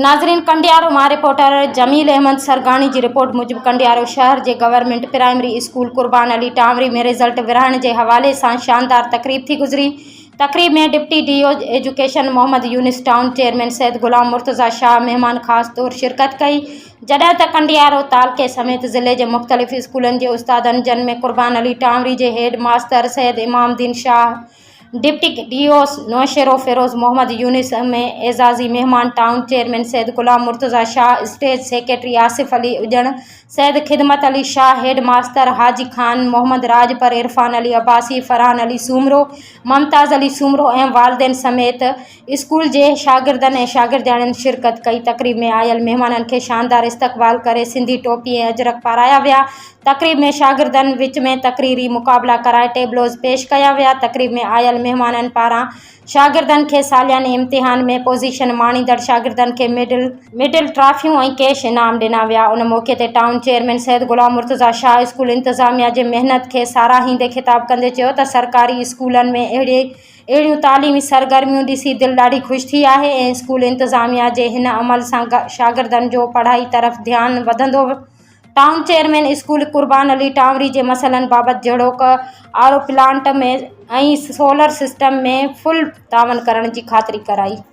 ناظرين ڪنڊيارو مان رپورٽر جميل احمد سرگاڻي جي رپورٽ موجب ڪنڊيارو شهر جي government primary school Qurban Ali Tanwari ۾ result ورهائڻ جي حوالي سان شاندار تقريب ٿي گذري تقريب ۾ deputy D O education Muhammad Younis town chairman Syed Ghulam Murtaza Shah مهمان خاص طور شرڪت ڪئي جڏهن ته ڪنڊيارو تعلقي سميت ضلعي جي مختلف اسڪولن جي استادن جن ۾ قربان علي ٽانوري جي هيڊ ماستر سيد امام الدين Shah deputy D O Naushahro Feroze Muhammad Younis M A اعزازي مهمان town chairman Syed Ghulam Murtaza Shah stage secretary Asif Ali اڄڻ سيد خدمت علي شاهه هيڊ ماستر حاجي خان محمد راڄپر عرفان علي عباسي فرحان علي سومرو ممتاز علي سومرو ۽ والدين سميت اسڪول جي شاگردن ۽ شاگردياڻين شرڪت ڪئي تقريب ۾ آيل مهمانن کي شاندار استقبال ڪري سنڌي ٽوپي ۽ اجرڪ پارايا ويا تقريب ۾ شاگردن وچ ۾ تقريري مقابلا ڪرائي ٽيبلوز پيش ڪيا ويا تقريب ۾ آيل مهمانن پاران شاگردن کي سالياني امتحان ۾ پوزيشن ماڻيندڙ شاگردن کي ميڊل ميڊل ٽرافيون ۽ ڪيش انعام ڏنا ويا ان موقعي تي town chairman Syed Ghulam Murtaza Shah school انتظاميا جي محنت کي ساراهيندي خطاب ڪندي چيو ته سرڪاري اسڪولن ۾ اهڙي اهڙيون تعليمي سرگرميون ڏسي دل ڏاڍي خوش ٿي آهي ۽ اسڪول انتظاميا جي هن عمل سان شاگردن جو پڙهائي طرف ڌيان وڌندو town chairman school Qurban Ali Tanwari جي مسئلن بابت جهڙوڪ RO plant ۾ ۽ solar system ۾ full تعاون ڪرڻ جي خاطري ڪرائي.